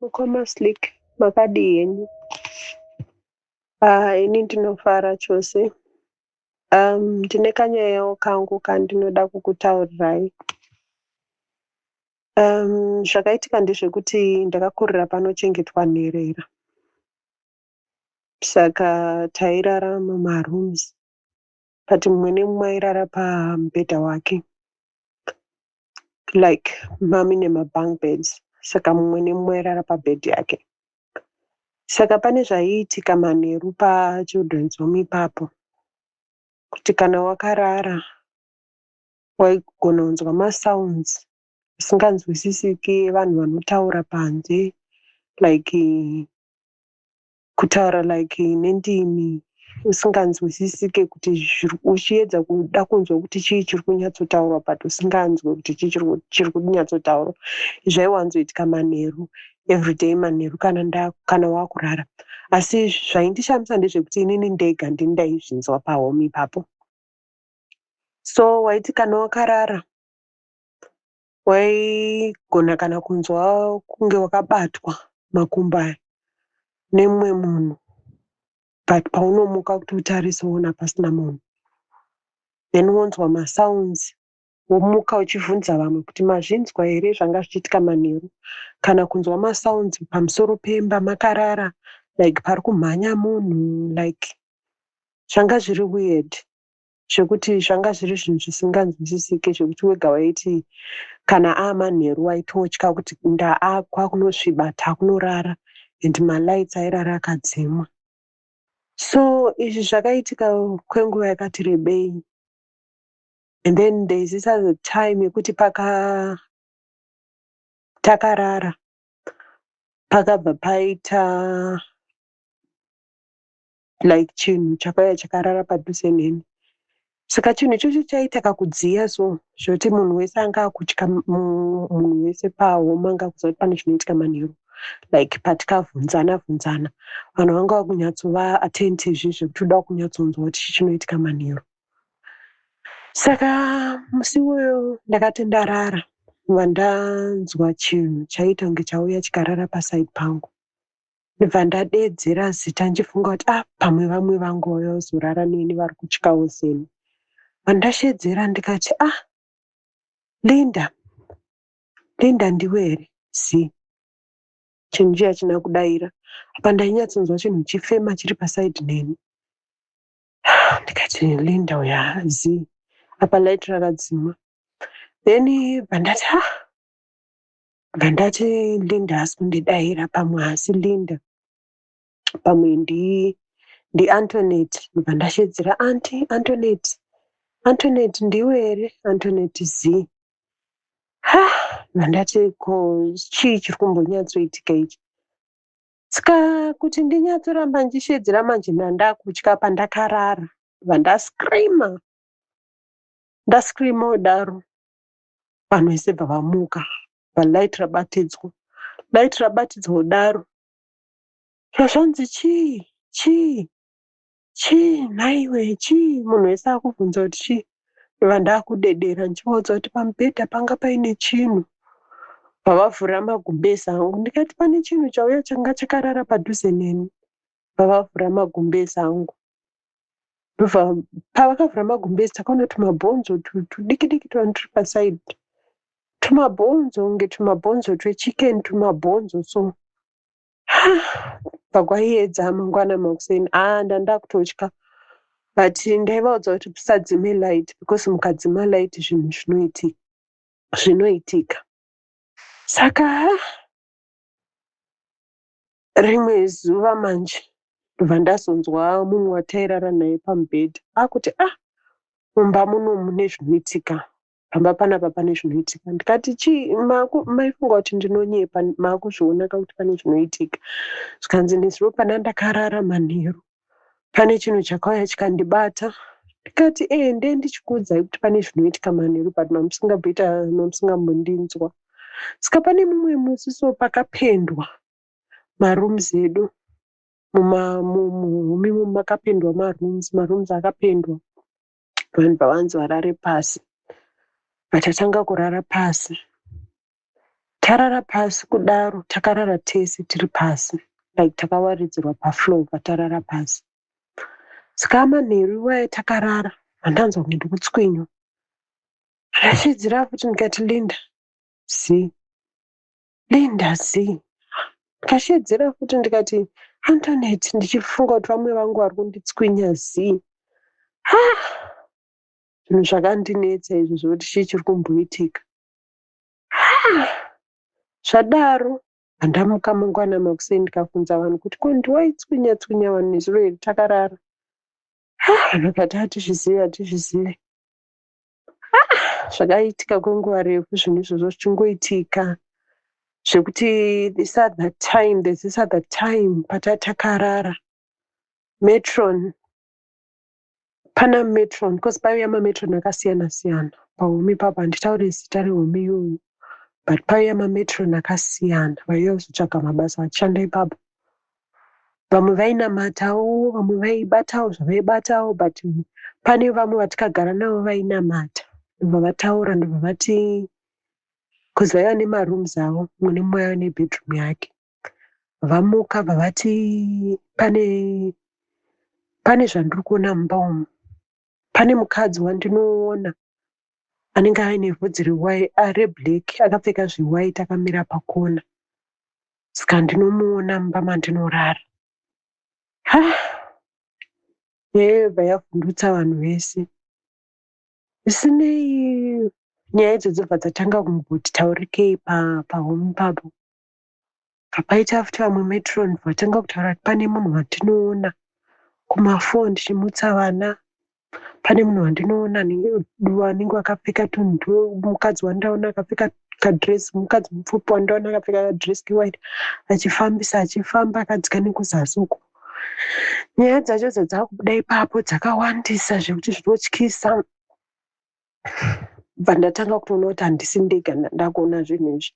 mukoma slick makadii henyu ah, ini ndinofara chose um, ndine kanyayawo kangu kandinoda kukutaurirai um, zvakaitika ndezvekuti ndakakurira panochengetwa nherera Saka tairara mumarooms but mumwe nemumwe airara pamubhedha wake like mami nemabunk beds saka mumwe nemumwe airara pabed yake saka pane zvaiitika manheru pachildren's home ipapo kuti kana wakarara waigona kunzwa masounds asinganzwisisiki evanhu vanotaura panze like kutaura like nendimi usinganzwisisike kuti uchiedza kuda kunzwa kuti chii chiri kunyatsotaurwa but usinganzwe kuti chii chiri kunyatsotaurwa zvaiwanzoitika manheru everyday manheru kana kana wakurara asi zvaindishamisa ndezvekuti inini ndega ndini ndaizvinzwa pahome ipapo so waiti kana wakarara waigona kana kunzwa kunge wakabatwa makumbo aya nemumwe munhu but paunomuka kuti utarise woona pasina munhu then wonzwa masounds womuka uchivhunza vamwe kuti mazvinzwa here zvanga zvichiitika manheru kana kunzwa masounds pamusoro pemba makarara like pari kumhanya munhu like zvanga zviri weird zvekuti zvanga zviri zvinhu zvisinganzwisisike zvekuti wega waiti kana aamanheru waitotya kuti ndaakwa kunosviba takunorara and malights airara akadzimwa so izvi zvakaitika kwenguva yakati rebei and then there is this other time yekuti paka takarara pakabva paita like chinhu chakauya chakarara padhuze neni saka chinhu ichocho chaita kakudziya so zvekuti munhu wese anga akutya munhu wese pahoma anga akuziva kuti pane chinoitika manheru like patikavhunzana vhunzana vanhu vanga vakunyatsova atenti izvi zvekuti uda kunyatsonzwa kuti chi chinoitika manheru saka musi iwoyo ndakati ndarara vandanzwa chinhu chaiita kunge chauya chikarara paside pangu ndibva ndadeedzera zita ndichifunga kuti ah pamwe vamwe vangu vauya kuzorara neni vari kutyawo seni pandasheedzera ndikati ah linda linda ndiwe here zii chinhu chiya china kudaira apa ndainyatsonzwa chinhu chifema chiri pasaidi neni ndikati linda uya zii apa light rakadzima then pandati ah Ngandati Linda haasi kundidaira pamwe haasi Linda pamwe ndi ndiAntonet ndobva ndashedzera anti Antonet Antonet ndiwe here Antonet z ha mandati ko chii chiri kumbonyatsoitika ichi ska kuti ndinyatsoramba ndichishedzera manje ndandakutya pandakarara ndandascreama ndascreama kudaro vanhu vese bva vamuka bva light rabatidzwa light rabatidzwa kudaro zvazvanzi chii chii chii nhaiwe chii munhu wese akubvunza kuti chii ndova ndakudedera ndichivaudza kuti pamubhedha panga paine chinhu vavavhura magumbezi angu ndikati pane chinhu chauya changa chakarara padhuze neni vavavhura magumbezi angu ndobva pavakavhura magumbezi takaona tumabhonzo tudiki diki tuvanhu turi paside tumabhonzo kunge tumabhonzo twechicken tumabhonzo so pakwaiedza mangwana makuseni a ah, ndandakutotya but ndaivaudza kuti tisadzime light because mukadzima light zvinhu zvinoitika zvinoitika saka rimwe zuva manje ndobva ndazonzwa mumwe watairara naye pamubhedha akuti a ah, mumba muno mune zvinoitika pamba panapa pane zvinoitika ndikati chii maifunga kuti ndinonyepa maakuzvionaka kuti pane zvinoitika zvikanzi nezuro pana ndakarara manheru Pane chinhu chakauya chikandibata ndikati ende ndichikuudzai kuti pane zvinoitika manheru but mamusingabhoita mamusingambondinzwa saka pane mumwe musi so pakapendwa marooms edu muhumi mu, mu, makapendwa marooms marooms akapendwa vanhu pavanzi varare pasi vatatanga kurara pasi Tarara pasi kudaro takarara tese tiri pasi like takawaridzirwa pafloor patarara pasi. Saka manheru iwaya takarara ndanzwa kunge ndikutswinywa. Ndakasvidzira futi ndikati Linda zii. Linda zii. Ndikasheedzera futi ndikati Antoinette ndichifunga kuti vamwe vangu vari kunditswinya zii. Ah! Zvinhu zvakandinetsa izvo zvekuti chii chiri kumboitika. Haa zvadaro handamuka mangwana makuseni ndikafunza vanhu kuti ko ndiwaitswinya tswinya vanhu nezuro iri takarara haa vanhu vakati hatizvizive hatizvizive haa zvakaitika kwenguva refu zvinhu izvozvo zvichingoitika zvekuti this other time there's this other time pataa takarara metron Pana metron because paiuya mametron akasiyana siyana pahome ipapo handitaure zita rehome iyoyo but paiuya mametron akasiyana vaiuya kuzotsvaga mabasa vachishanda ipapo vamwe vainamatawo vamwe vaibatawo zvavaibatawo but pane vamwe vatikagara navo vainamata ndobva vataura ndobva vati bcause vaiva nemarooms avo mune mumwe aiva nebedroom yake vamuka vavati pane pane zvandiri kuona mumba umu pane mukadzi wandinoona anenge aine vhudzi reblack akapfeka zvewhite akamira pakona saka ndinomuona mumba mandinorara haa yobva yavhundutsa vanhu vese zvisinei nyaya idzo dzobva dzatanga kumboti taurikei pahome papo Paita after vamwe matron vatanga kutaura kuti pane munhu wandinoona kumafoni ndichimutsa vana, pane munhu wandinoona anenge akapfeka tunhu twemukadzi wandaona akapfeka kadress mukadzi mupfupi wandaona akapfeka kadress kewhite achifambisa achifamba akadzika nekuzasi uko nyaya dzacho dzadzakubuda ipapo dzakawandisa zvekuti zvinotyisa. bva ndatanga kutoona kuti handisi ndega ndakuona zvinhu izvi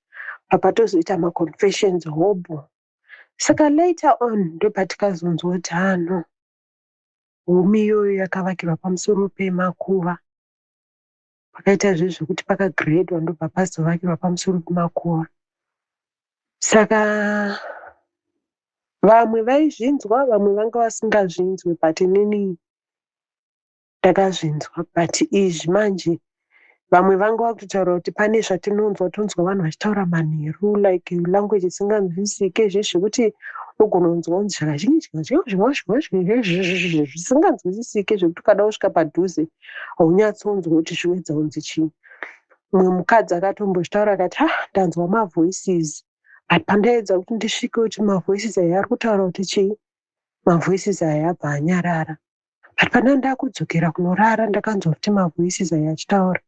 papatozoita maconfessions hobho saka later on ndopatikazonzwa kuti hano humi iyoyo yakavakirwa pamusoro pemakuva pakaita zve zvekuti pakagredwa ndobva pazovakirwa pamusoro pemakuva saka vamwe vaizvinzwa vamwe vanga vasingazvinzwe but inini Ndakazvinzwa but izvi manje vamwe vanga vakutotaura kuti pane zvatinonzwa tonzwa vanhu vachitaura manheru like language isinganzwisike izvezvi zvekuti unogona kunzwa kunzi zvakazvisinganzwisisike zvekuti ukada kusvika padhuze haunyatsonzwa kuti zviwedza kunzi chii mumwe mukadzi akatombozvitaura akati ha ndanzwa mavoices but pandaedza kuti ndisvike kuti mavoices aya ari kutaura kuti chii mavoices aya abva anyarara but pandanga ndakudzokera kunorara ndakanzwa kuti mavoices aya achitaura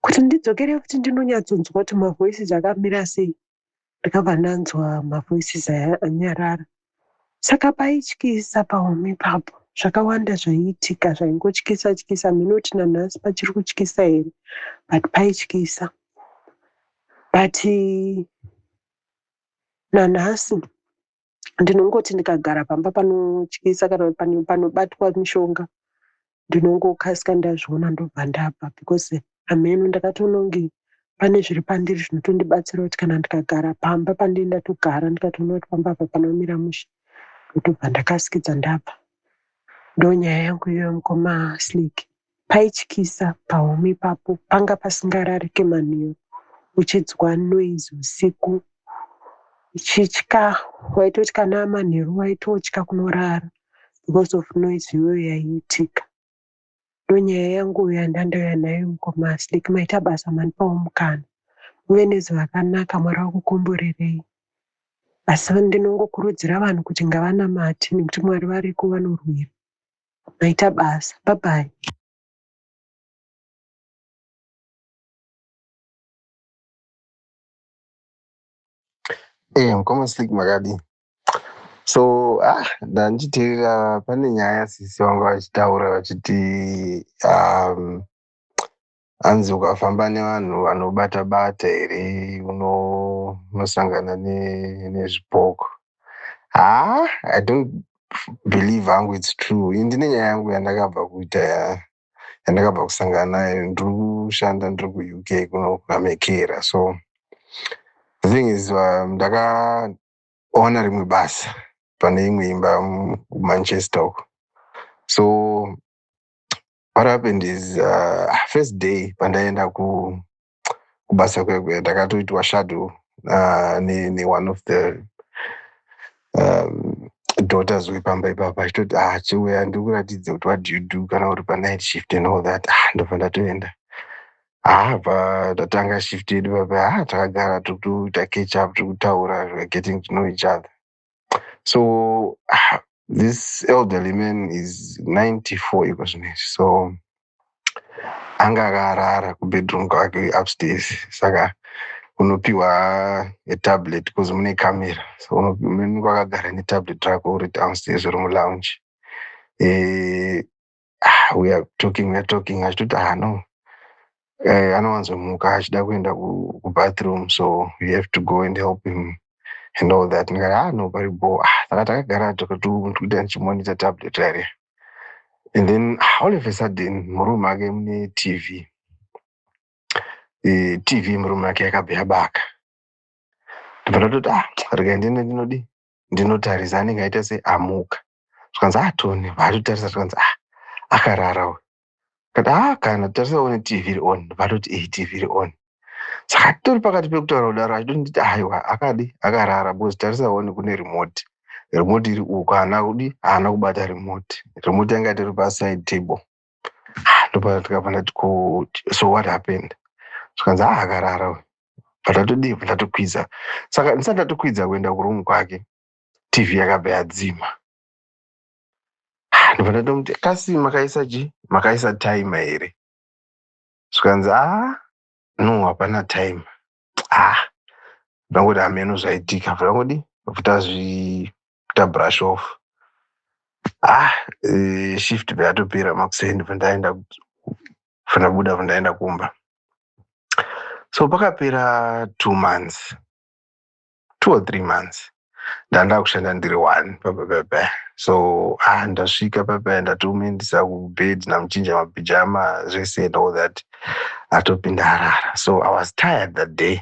kuti ndidzokere kuti ndinonyatsonzwa kuti mavoices akamira sei ndikabva ndanzwa mavoices aya anyarara saka paityisa pahome ipapo zvakawanda zvaiitika zvaingotyisa tyisa mhino kuti nanhasi pachiri kutyisa here but paityisa but nanhasi ndinongoti ndikagara pamba panotyisa kana panobatwa mishonga ndinongokasika ndazviona ndobva ndabva because hameno ndakatononge pane zviri pandiri zvinotondibatsira kuti kana ndikagara pamba pandiri ndatogara ndikatoona kuti pamba apa panomira mushe ndotobva ndakasikidza ndabva ndonyaya yangu iyoyo mukoma sliki Paityisa pahome ipapo panga pasingararike manheru uchinzwa noise usiku uchitya waitotya namanheru waitotya kunorara because of noise iyoyo yaiitika ndonyaya yangu yandandauya nayo mukoma asliki maita basa manipawo mukana uve nezuva rakanaka mwari wakukomborerei asi ndinongokurudzira vanhu kuti ngavanamate nekuti mwari variko vanorwira maita basa bye bye Eh, mkoma slick makadii so ah, ndandichiteerera pane nyaya sisi vanga vachitaura vachiti um, hanzi ukafamba nevanhu vanobata bata here unosangana nezvipoko haa i don't believe hangu its true i ndine nyaya yangu yandakabva kuita yandakabva kusangana nayo ndiri kushanda ndiri kuuk kuno amekera so the thing is uh, ndakaona rimwe basa pane imwe imba kumanchester uko so what happened is uh, first day pandaenda ku kubasa kwekwe ndakatoitwa shadow uh, ne, ne one of the um, daughters wepamba ipapa achitoti ah chiuya ndikuratidze kuti what do you do kana uri pa night shift and all that ah ndobva ndatoenda ah pa tatanga shift yedu papa ah takagara tiri kutoita catch up tiri kutaura we're getting to know each other so ah, this elderly man is 94 iko zvinezvi so anga akarara kubedroom kwake upstairs saka unopiwa a tablet bcause mune camera so unenge wakagara netablet rako uri downstairs uri mulounge e, ah, we are talking we are talking achitoti ah no eh, anowanzomuka achida kuenda kubathroom so you have to go and help him and all that ndikati ah no pari bo ah, saka takagara tokatoita ndichimonita tablet rare and then ah, all of a sudden murume ake mune tv eh, tv murume ake yakabva yabaka ndobva ndatoti ah rega ndiende ndinodii ndinotarisa anenge aita se amuka zvikanzi ah tone vaatotarisa zvikanzi ah akarara uyu kati ah kana tarisa one tv iri on vatoti iyi tv iri on saka titori pakati pekutaura kudaro achitonditi aiwa akadi akarara because tarisa one kune remote remote iri uko haana kudi haana kubata remote remote yanga itori paside table ah, ndopana tikabva ndati ko so what happened zvikanzi ah akarara uyu but atodii bva ndatokwidza saka ndisati ndatokwidza kuenda kuroom kwake tv yakabva yadzima ah, ndobva ndatomuti kasi makaisa chi makaisa time here zvikanzi ah no hapana time ah ndangoti hameno zvaitika ndangodi tazvi tabrush off ah e, shift yatopera makuseni vandaenda vandabuda vandaenda kumba so pakapera two months two or three months ndandava kushanda ndiri one papepepe so ah ndasvika pepe ndatomuendisa kubed namuchinja mapijama zvese and all that atopinda arara so i was tired that day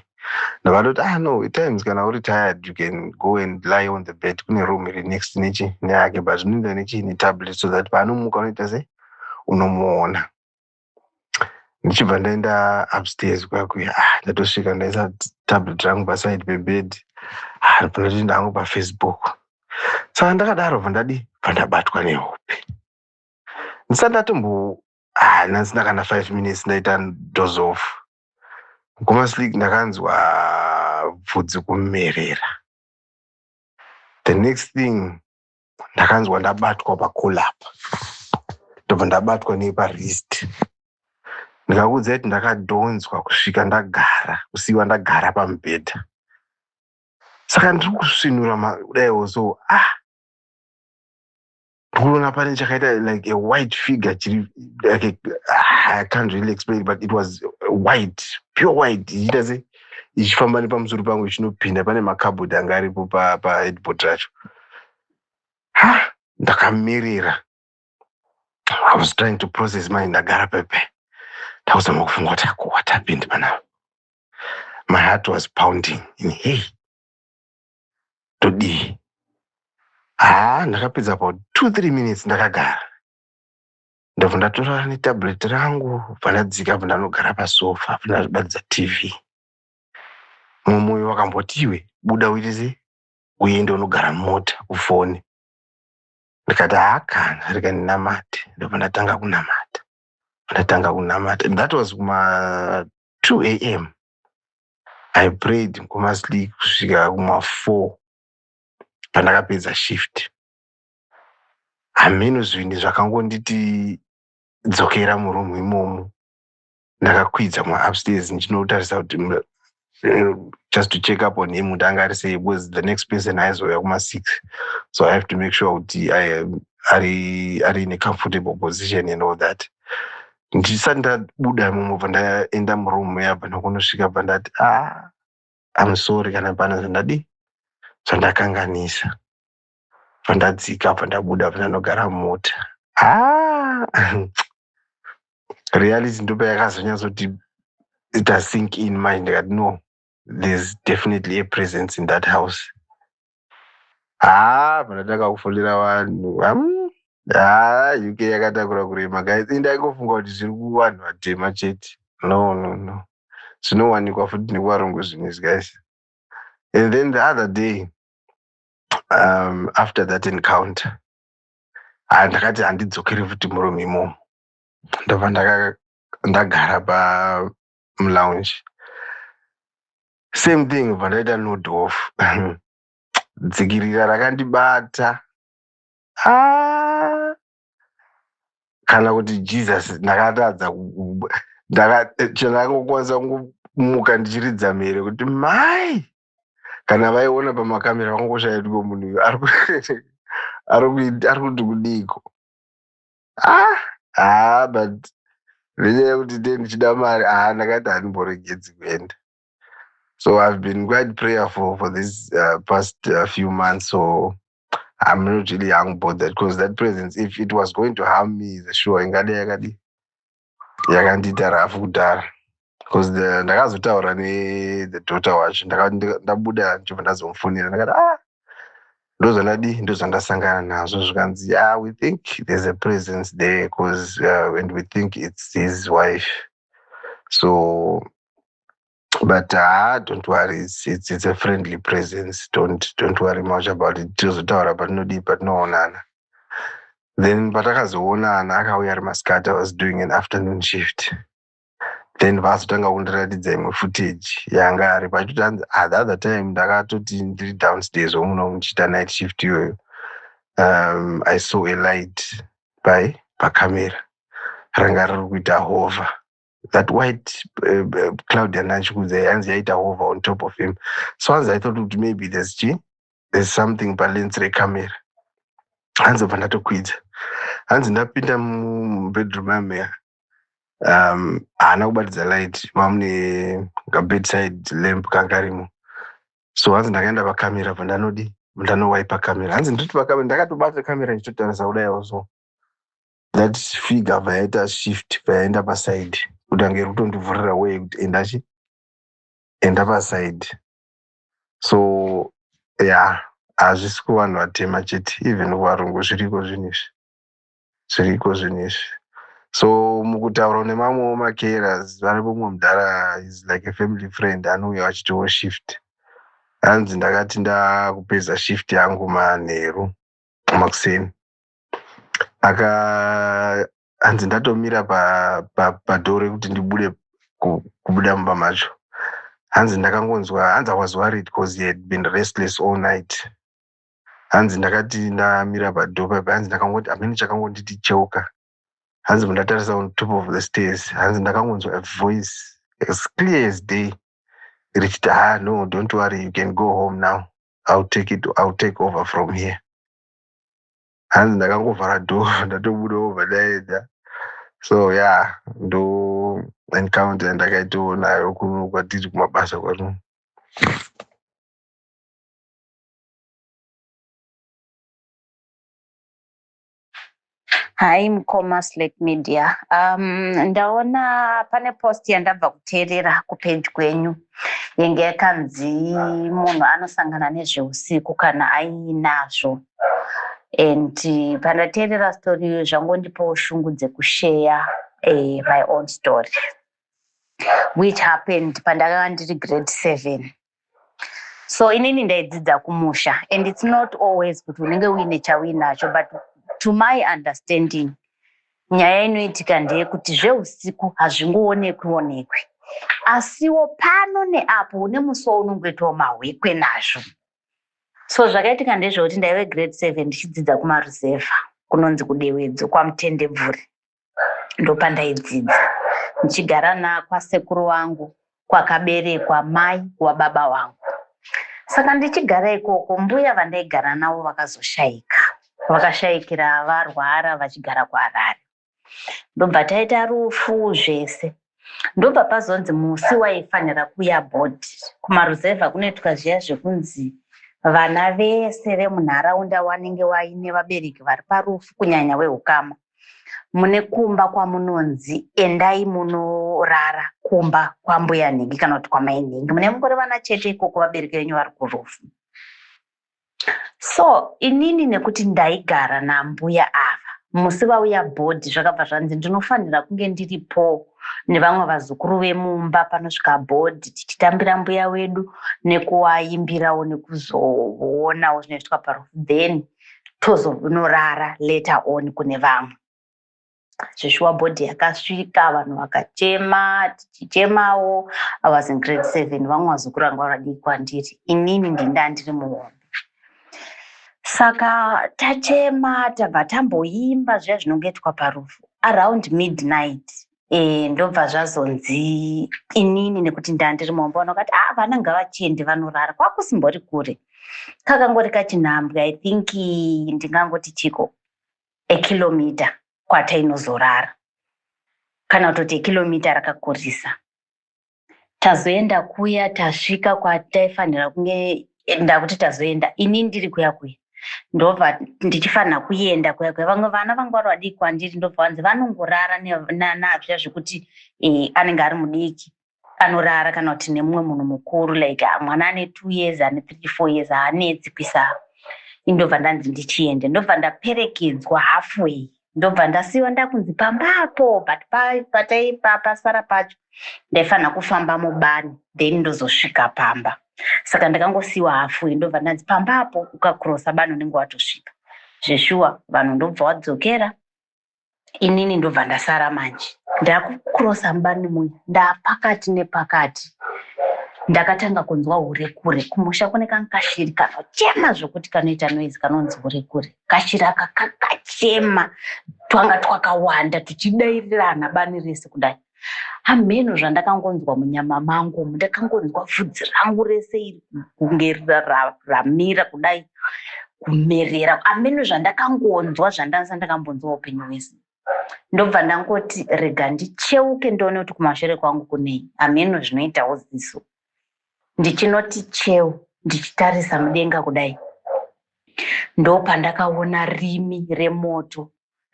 ndakatoti ah no times kana uri tired you can go and lie on the bed kune room iri next nechi neyake but zvinoenda nechi netablet so that paanomuka unoita se unomuona ndichibva ndaenda upstairs kwakuya ah, ndatosvika ndaisa tablet rangu paside pebed ah, ndopinda hangu pafacebook saka ndakadaro bva ndadi bva ndabatwa nehope ndisati ndatombo ah, ndasina kana five minutes ndaita doze off kumaslik ndakanzwa bvudzi kumerera the next thing ndakanzwa ndabatwa pacool up ndobva ndabatwa neparist ndikakuudza kuti ndakadhonzwa kusvika ndagara kusiiwa ndagara pamubhedha saka ndiri kusvinura kudaiwo so ah ndikuona pane chakaita like a white figure chiri like ah, i can't really explain but it was white pure white ichiita se ichifamba nepamusoro pangu ichinopinda pane makabhodhi anga aripo paedbot racho pa ha ndakamirira i was trying to process manje ndagara pepe ndakuzama kufunga kuti ako what happened panapa my heart was pounding in hey todii haa ndakapedza about two three minutes ndakagara ndabva ndatora netablet rangu bva ndadzika bva ndanogara pasofa bva ndazvibatidza tv mumwe uyo wakamboti iwe buda uite sei uende unogara mumota ufone ndikati haakana rega ndinamate ndobva ndatanga kunamata ndatanga kunamata that was kuma 2 a m i prayed kumasli kusvika kuma 4 pandakapedza shift hameno zvinhu zvakangonditi dzokera murumu imomo ndakakwidza muupstairs ndichinotarisa kuti eh, just to check up on him kuti anga ari sei because the next person aizouya kuma-six so i have to make sure kuti ari ari in a comfortable position and all that ndisati ndabuda imomo bva ndaenda muroom yabva nokunosvika bva ndati a ah, am sorry kana pana zvandadii zvandakanganisa pandadzika pandabuda pandanogara mumota ah! reality ndopa yakazonyatsoti ita sink in manje ndikati no there's definitely a presence in that house haa ah, pandatanga kufonera vanhu haa ah, uk yakatakura kurema guys indaingofunga kuti zviri kuvanhu vatema chete no no no zvinowanikwa futi nekuvarungu zvinhu izvi guys and then the other day um, after that encounter ah, ndakati handidzokere futi muroom imomo ndobva ndagara pamulounge same thing bva ndaita nod off dzikirira rakandibata ah! kana kuti jesus ndakatadza chandakakwanisa kumuka ndichiridza mhere kuti mai kana vaiona pamakamera vangoshaya kuti munhu uyu ari ku- ari kuit- ari kuti kudiiko ah ah but nenyaya yekuti ndee ndichida mari ah ndakati handimboregedzi kuenda so i've been quite prayerful for this uh, past uh, few months so i'm not really hangu bothered because that presence if it was going to harm me the sure ingadai yakadii yakandiita rafu kudhara bcause ndakazotaura nethe daughter wacho ndabuda ndichobva ndazomufonera ndakati a ah, ndozvandadi ndozvandasangana nazvo zvikanzi ya ah, we think there's a presence there bcause uh, and we think its his wife so but haa ah, don't worry it's, it's, it's a friendly presence don't, don't worry much about it tozotaura patinodii patinoonana then patakazoonana akauya ari masikati was doing an afternoon shift then vazotanga kundiratidza imwe footage yanga ari pachuti anzi ah, the other time ndakatoti ndiri downstairs womuno muchiita night shift iyoyo um, i saw a light pai pacamera ranga riri kuita hova that white uh, uh, cloud yanachikudza yanzi yaita over on top of him so hanzi aithought kuti maybe there's chi there's something palens recamera hanzi bva ndatokwidza hanzi ndapinda mubedroom yameya um haana kubatidza light mamune kabedside lamp kangarimo so hanzi ndakaenda pacamera bva ndanodi ndanowipa camera hanzi ndoti pacamera ndakatobata camera ndichitotarisa kudai also that figure abva yaita shift payaenda paside kuti ange iri kutondivhurira way kuti enda chi enda paside so ya yeah, hazvisi kuvanhu vatema chete even kuvarungu zviriko zvinhu izvi zviriko zvinhu izvi so mukutaura nemamwewo macaras vari kumwe mudhara is like a family friend anouya vachitiwo shift hanzi ndakati ndakupedza shift yangu manheru makuseni aka hanzi ndatomira padhoo rekuti ndibude kubuda mumba macho hanzi ndakangonzwa hanzi awas worried because he had been restless all night hanzi ndakati ndamira padhoo paipa hanzi ndakangoti amene chakangonditi cheuka hanzi mundatarisa on top of the stairs hanzi ndakangonzwa a voice as clear as day richiti ha ah, no don't worry you can go home now ill take it ill take over from here hanzi ndakangovhara door ndatobuda obva daedza so ya yeah, ndo encounter yandakaitawo nayo kuno kwatiri kumabasa kwano Hi mkoma Slate Media. Um, ndaona pane post yandabva kuteerera kupage kwenyu. yenge yakanzi munhu anosangana nezveusiku kana ainazvo and pandateerera story iyo zvangondipawo shungu dzekusheya uh, my own story which happened pandakanga ndiri grade seven so inini ndaidzidza kumusha and it's not always kuti unenge uine chauinacho but to my understanding Nyaya inoitika ndeyekuti zvehusiku hazvingoonekwi onekwi asiwo pano neapo une musuwo unongoitawo mahwekwe nazvo so zvakaitika ndezvekuti ndaive grade seven ndichidzidza kumaruzevha kunonzi kudewedzo kwamutendebvuri ndopandaidzidza ndichigara nakwasekuru wangu kwakaberekwa mai wababa wangu. Saka ndichigara ikoko mbuya vandaigara navo vakazoshaika. Vakashaikira varwara vachigara kuHarare. Ndobva taita rufu zvese. Ndobva pazonzi musi waifanira kuya board kumaruzevha kunoitwa zviya zvekunzi vana vese vemunharaunda wanenge waine vabereki vari parufu kunyanya wehukama. mune kumba kwamunonzi endai munorara kumba kwambuya nhingi kana kuti kwamai nhingi mune mungori vana chete ikoko vabereki venyu vari kurufu so inini nekuti ndaigara nambuya ava musi vauya bhodhi zvakabva zvanzi ndinofanira kunge ndiripo nevamwe vazukuru vemumba panosvika bhodhi tichitambira mbuya wedu nekuwaimbirawo nekuzoonawo zvinoitwa parufu then tozonorara later on kune vamwe zveshuwa bhodhi yakasvika vanhu vakachema tichichemawo i was in grade seven vamwe vazokuranga varadii kwandiri inini ndinda ndiri muhombe saka tachema tabva tamboimba zviya zvinongoitwa parufu around midnight e, ndobva zvazonzi inini nekuti ndandiri momba ona kati ah vana ngavachende vanorara kwakusimbori kure kakangori kachinhambwe i think ndingangoti chiko ekilomita kwatainozorara kana kutoti ekilomita rakakurisa tazoenda kuya tasvika kwataifanira kunge ndakuti tazoenda ini ndiri kuya kuya ndobva ndichifanira kuenda kuya kuya vamwe vana vangu vari vadiki kwandiri ndobva vanzi vanongorara nazviya zvekuti eh, anenge ari mudiki anorara kana kuti nemumwe munhu mukuru like ah, mwana ane two years ane three four years haanetsi kuisa indobva ndanzi ndichiende ndobva ndaperekedzwa halfway ndobva ndasiwa ndakunzi pamba apo but pasara pacho ndaifanira kufamba mubani then ndozosvika pamba saka ndakangosiwa hafui ndobva ndanzi pamba apo ukakrosa bani unenge watosvika zveshuwa vanhu ndobva wadzokera inini ndobva ndasara manje ndakukrosa mubani muya ndapakati nepakati ndakatanga kunzwa hure kure kumusha kune kankashiri kanochema zvokuti kanoita noizi kanonzi hure kure kashira aka kakachema twanga twakawanda tuchidairirana bani rese kudai hameno zvandakangonzwa munyama mangu umu ndakangonzwa vhudzi rangu rese iri kunge ramira kudai kumerera hameno zvandakangonzwa zvandansa ndakambonzwa upenyu hwese ndobva ndangoti rega ndicheuke ndione kuti kumashure kwangu kunei hameno zvinoitawo ziso ndichinoti cheu ndichitarisa mudenga kudai ndopandakaona rimi remoto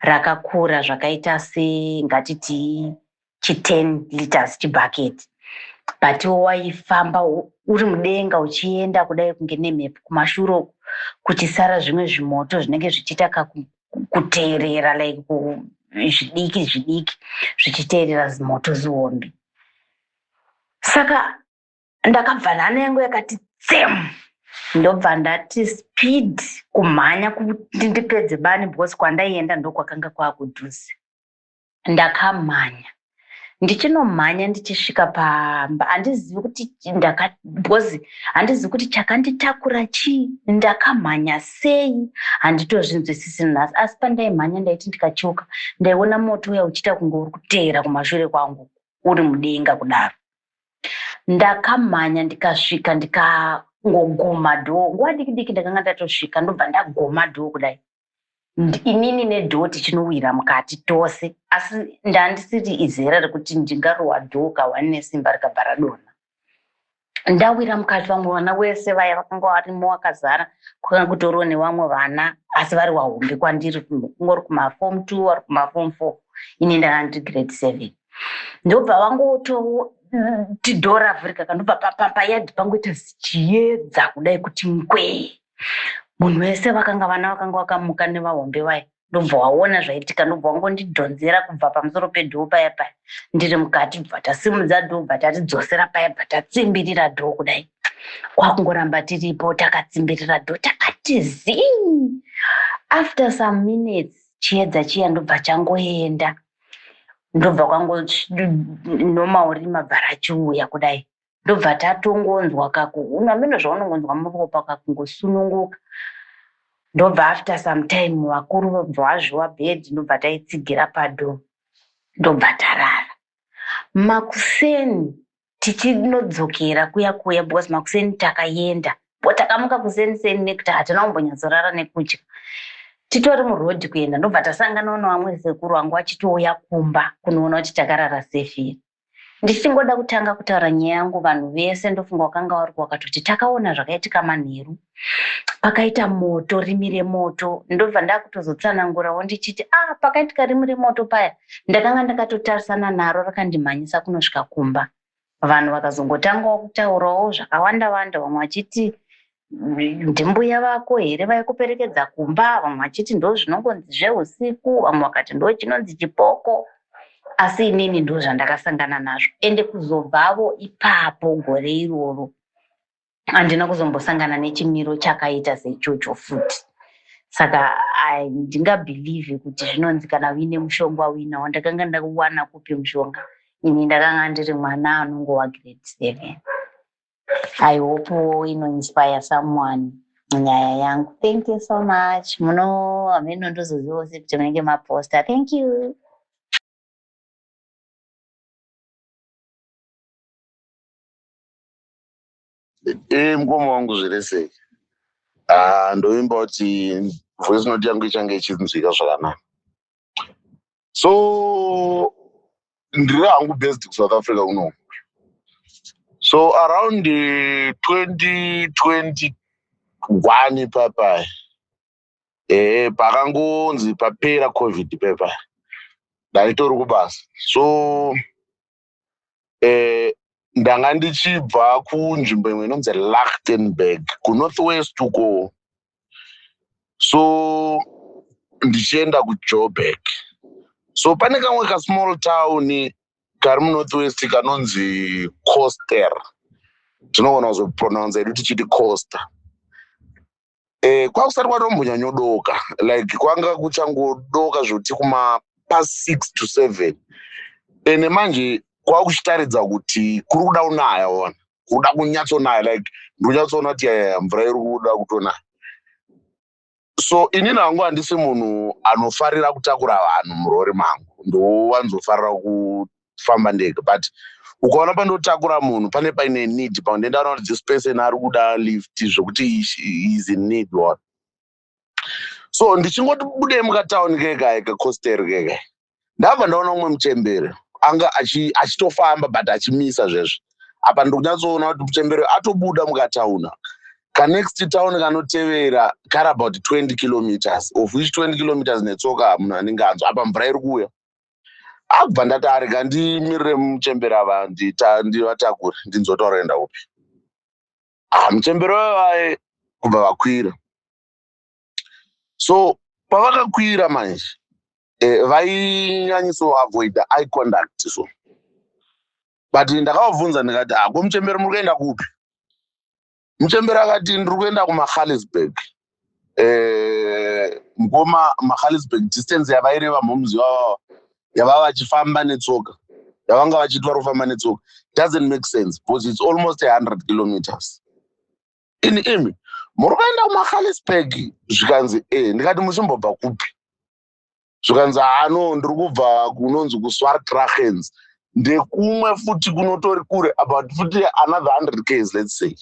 rakakura zvakaita se ngatiti chi 10 liters chibucket but waifamba uri mudenga uchienda kudai kunge nemhepo kumashure uku kuchisara zvimwe zvimoto zvinenge zvichiita kakuteerera like zvidiki zvidiki zvichiteerera zimoto zihombe saka ndakabva nhano yangu yakati tsem ndobva ndati speed kumhanya kuti ndipedze bani because kwandaienda ndokwakanga kwakudhuze ndakamhanya ndichinomhanya ndichisvika pamba handizivi kuti ndaka because handizivi kuti chakanditakura chii ndakamhanya sei handitozvinzwisisi nhasi asi pandaimhanya ndaiti ndikacheuka ndaiona moto uya uchiita kunge uri kuteera kumashure kwangu uri mudenga kudaro ndakamhanya ndikasvika ndikangoguma dhoo nguva diki diki ndakanga ndatosvika ndobva ndaguma dhoo kudai inini nedhoo tichinowira mukati tose asi ndandisiri izera rekuti ndingarowa dhoo kahwani nesimba rikabva radonha ndawira mukati vamwe vana wese vaya vakanga varimo wakazara kwakanga kutoriwo nevamwe vana asi vari wahombe kwandiri kungori kumafom t vari kumafom four ini ndanga ndiri grade seven ndobva vangototi dho ravhurika kandobva papayadhi pangoita zichiyedza kudai kuti ngwee munhu wese vakanga vana vakanga vakamuka nevahombe vaya ndobva waona zvaitika ndobva wangondidhonzera kubva pamusoro pedhoo paya paya ndiri mukati bva tasimudza dhoo bva tatidzosera paya bva tatsimbirira dhoo kudai kwakungoramba tiripo takatsimbirira dhoo takati zii after some minutes chiedza chiya ndobva changoenda ndobva kwango normal rima bva rachiuya kudai ndobva tatongonzwa kakuhunu ameno zvaunongonzwa muropa kakungosununguka ndobva after some time vakuru vobva vazviwa bed ndobva taitsigira pado ndobva tarara makuseni tichinodzokera kuya kuya because makuseni takayenda bo takamuka kuseni seni nekuti hatina kumbonyatsarara nekudya titori muroad kuenda ndobva tasanganawo nevamwe sekuru vangu vachitouya kumba kunoona kuti takarara sefiri Ndichingoda kutanga kutaura nyaya yangu vanhu vese ndofunga wakanga waruka wakatoti takaona zvakaitika manheru pakaita moto rimi remoto ndobva ndakutozotsanangura wondichiti a ah, pakaitika rimi remoto paya ndakanga ndakatotarisana naro rakandimhanyisa kunosvika kumba vanhu vakazongotangawo kutaurawo zvakawanda wanda vamwe vachiti ndimbuya vako here vaikuperekedza kumba vamwe vachiti ndo zvinongonzi zveusiku vamwe vakati ndo chinonzi chipoko asi inini ndo zvandakasangana nazvo ende kuzobvavo ipapo gore iroro handina kuzombosangana nechimiro chakaita seichocho futi saka handingabhilivhi kuti zvinonzi kana uine mushonga uinawo ndakanga ndakuwana kupi mushonga ini ndakanga ndiri mwana anongova grade seven i hope ino inspire someone nyaya yangu thank you so much muno hameno ndozozivawo se kuti munenge maposta thank you ee eh, mukoma wangu zviri sei ah, ndoimba kuti voice note yangu ichange ichinzwika zvakanaka so ndiri hangu based kusouth africa kuno so around 2021 eh, papai ee eh, pakangonzi papera covid pepai ndaitori kubasa so eh, ndanga ndichibva kunzvimbo imwe inonzi lachtenberg kunorth west uko so ndichienda kujoburg so pane kamwe kasmall town kari munorth west kanonzi coster tinogona kuzopronounce edu tichiti coster Eh, kwakusati kwatombonyanyodoka like kwanga kuchangodoka zvoti kuma pa six to seven ene manje kwakuchitaridza kuti kuri kuda kunaya ona kuri kuda kunyatsonaya like ndonyatsoona kuti yaya mvura iri kuda kutonaya so ini nangu handisi munhu anofarira kutakura vanhu murori mangu ndowanzofarira kufamba ndega but ukaona pandotakura munhu pane paine need pandendaona kuti this person ari kuda lift zvekuti is in need one so ndichingoti budei mukatown kekae kecoster kekae ndabva ndaona umwe muchembere anga achitofamba but achimisa zvezvo apa ndikunyatsoona kuti muchembere atobuda mukatauna kanext town kanotevera kari about 20 kilometers of which 20 kilometers netsoka munhu anenge anzwa apa mvura iri kuuya akubva ndati arega ndimirire muchembera ava ndivatakure ndinzwe kuti varoenda upi ah, muchembera uyo vaye kubva vakwira so pavakakwira manje eh, vainyanyiso avoida i conduct so but ndakavabvunza ndikati ah, ko muchembera muri kuenda kupi Mchembere akati ndiri kuenda kuMagaliesburg eh, ngoma Magaliesburg distance yavaireva moms yavo yavava vachifamba netsoka yavanga vachiitwa rofamba netsoka doesn't make sense because it's almost 100 kilometers ini imi muri kuenda kuMagaliesburg zvikanzi eh ndikati muchimbobva kupi zvikanzi haa no ndiri kubva kunonzi kuswartrachens ndekumwe futi kunotori kure about futi another 100 ks let's say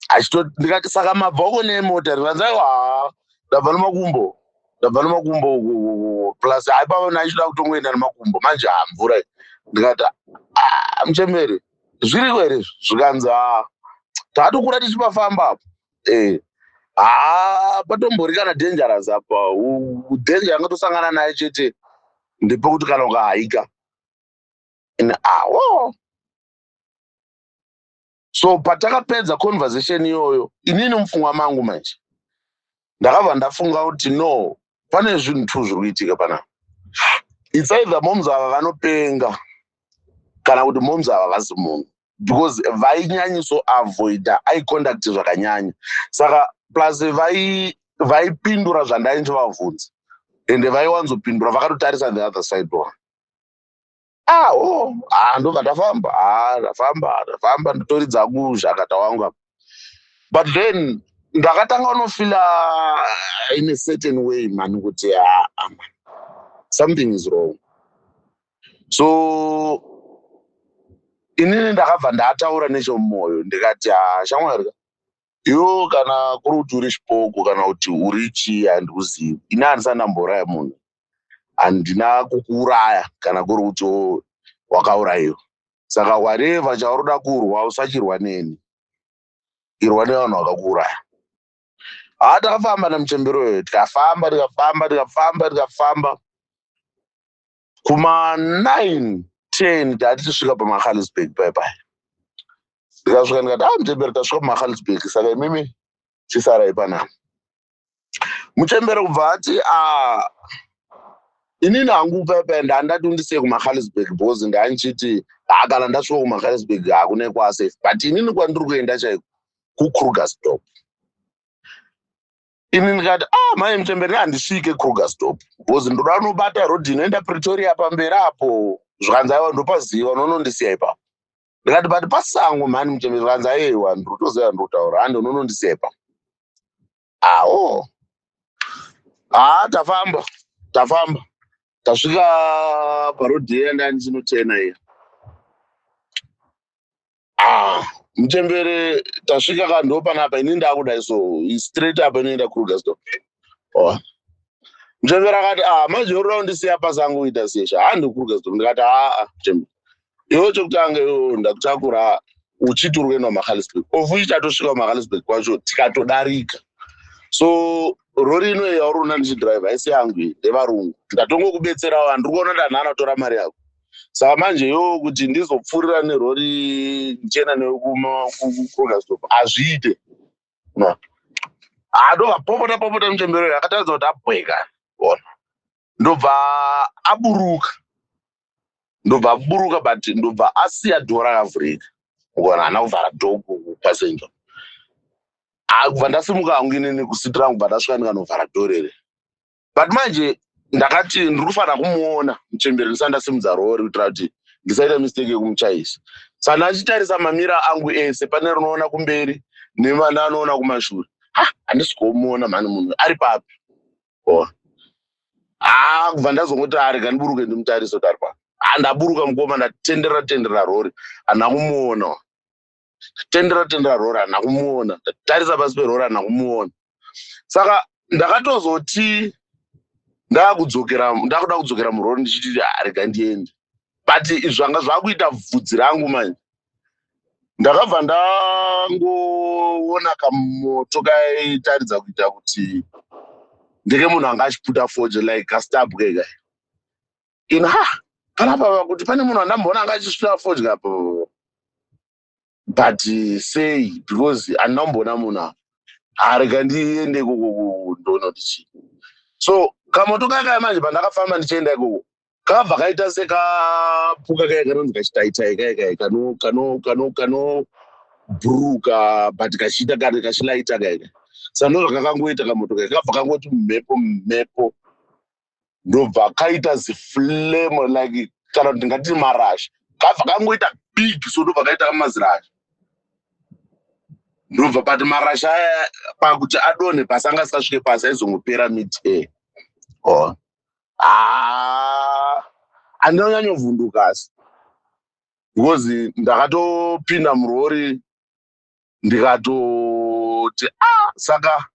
achito ndikati saka mabva uko nemota ndikanzi aiwa haa ndabva nemakumbo ndabva nemakumbo uku, uku, uku. plus haipava naichida kutongoenda nemakumbo manje haa mvura iyi. ndikati "Ah, muchembere zviriko here izvi?" zvikanzi haa tatokura tichipafamba apo eh haa patombori kana dangerous apa danger yanga tosangana naye chete ndepekuti kana ukahaika and awo so patakapedza conversation iyoyo inini mupfungwa mangu manje ndakabva ndafunga kuti no pane zvinhu two zviri kuitika pana it's either moms ava vanopenga kana kuti moms ava vasi munhu because vainyanyiso avoida aiconduct zvakanyanya saka plus vaipindura vai zvandainge vavhunza ende vaiwanzopindura vakatotarisa the other side one ah oh ah ndobva tafamba ah tafamba tafamba ndotoridza angu zvakata wangu apa but then ndakatanga unofila in a certain way mani kuti aa ah, ah, something is wrong so inini ndakabva ndataura nechomumoyo ndikati haa shamwari ka yo kana kuri kuti uri chipoko kana kuti uri chii handikuzivi ini handisati ndambouraya munhu handina kukuuraya kana kuri kuti wo- wakaurayiwa saka whatever chauri kuda kurwa usachirwa neni irwa nevanhu vakakuuraya haa takafamba nemuchembero uyo tikafamba tikafamba tikafamba tikafamba kuma 9 10 tati tisvika pamahalisburg pai pai ndikasvika ndikati ah muchembere tasvika pamahalisburg saka imimi chisarai panapa muchembere kubva ati ah inini hangu pai pai ndandati undisiye kumahalisburg because ndandichiti ah kana ndasvika kumahalisburg hakune kwasafe but inini kwandiri kuenda chaiko kukrugersdop ini ndikati ah mai mutemberi handisvike kruger stop because ndoda unobata rodhi inoenda pretoria pamberi apo zvikanzi aiwa ndopaziva unonondisiya ipapo ndikati but pasango mhani mutemberi zvikanzi aiwa ndrotoziva ndrotaura hande unonondisiya ipapo awo haa ah, tafamba tafamba tasvika parodhi iya ndani chinotena iya ah mchembere tasvika ka ndopanapa ini ndakudai so straight apa inoenda krugerstop oh. mchembere akati ah manje urira undisiya pasango uita sesha handi krugerstop ndikati aa ah, ah, mchembere iwo chokutanga iwo ndakutakura uchiti uri kuenda kumahalisburg of which tatosvika kumahalisburg kwacho tikatodarika so rori ino yauri una ndichidrive haisi yangu iyi ndevarungu ndatongokubetserawo andiri kuona ndanhana kutora mari yako saka manje yoo kuti ndizopfuurira nerori ndichienda newe kuma- ku- ku- krugersdorp hazviite no adobva popota popota muchembere uyu akataridza kuti abweka ona ndobva aburuka ndobva aburuka but ndobva asiya dhora rakavhurika ukaona hana kuvhara dho kupassenger Ah, kubva ndasimuka hangu inini kusiti rangu kubva ndasvika ndikanovhara dho rere but manje ndakati ndiri kufanira kumuona muchemberi ndisati ndasimudza rori kuitira kuti ndisaita mistake yekumuchaisa sa ndachitarisa mamira angu ese pane rinoona kumberi nevananoona kumashure ha handisi kuomuona mhani munhu ari papi o haa ah, kubva ndazongoti arega ah, ndiburuke ndimutarise kuti ari papi ha ah, ndaburuka mukoma ndatenderera tenderera rori handina kumuona tendera tendera roran nakumuona tarisa pasi peroran nakumuona saka ndakatozoti ndakudzokera ndakuda kudzokera murori ndichiti arega ah, ndiende but zvanga zvakuita vhudzi rangu manje ndakabva ndangoona kamoto kaitaridza kuita kuti ndeke munhu anga achiputa fojo like kastabwe kai ino ha panapa pakuti pane munhu andamboona anga achisvira fodya apo but sei because andina kumboona munhu apo harega ndiende ikoko ndoona kuti chii so kamoto kaya kaya manje pandakafamba ndichienda ikoko kabva kaita sekapuka kaya kanonzi kachitaitai kaya kaya kano kano kano kano bhuruka but kachiita kari kachilaita kaya kaya sandozvakakangoita kamoto kaya kabva kangoti mhepo mhepo ndobva kaita ziflame like kana kuti ndingati marashi kabva kangoita big so ndobva kaita kamazirashi ndobva but marashi aya pakuti adonhe pasi anga asikasvike pasi aizongopera mid air oh. ah, andina kunyanyovhunduka asi because ndakatopinda murori ndikatoti ah saka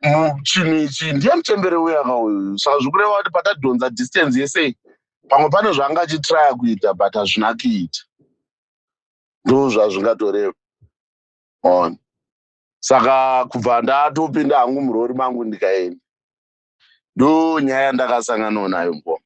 mu- chinhu ichi ndiye muchembere uya ka uyu saka zvikureva kuti patadhonza distance yese pamwe pane zvaanga achitraya kuita but hazvina kuita ndo zvazvingatoreva on saka kubva ndatopinda hangu murori mangu ndikaenda ndo nyaya yandakasanganawo nayo mukoma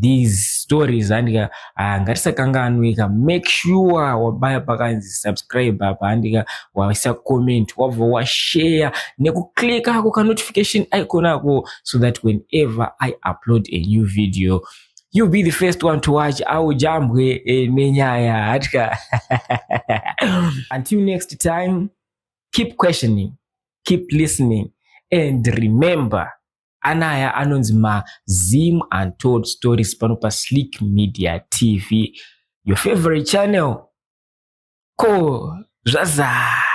these stories handika ah, ngatisakanganwika make sure wabaya pakanzi subscribe apa handika waisa comment wabva washare nekuclick ako kanotification icon ako so that whenever i upload a new video you be the first one to watch aujambwe eh, nenyaya hatika until next time keep questioning keep listening and remember anaya anonzi mazim untold stories pano paslick media tv your favorite channel ko zvazaa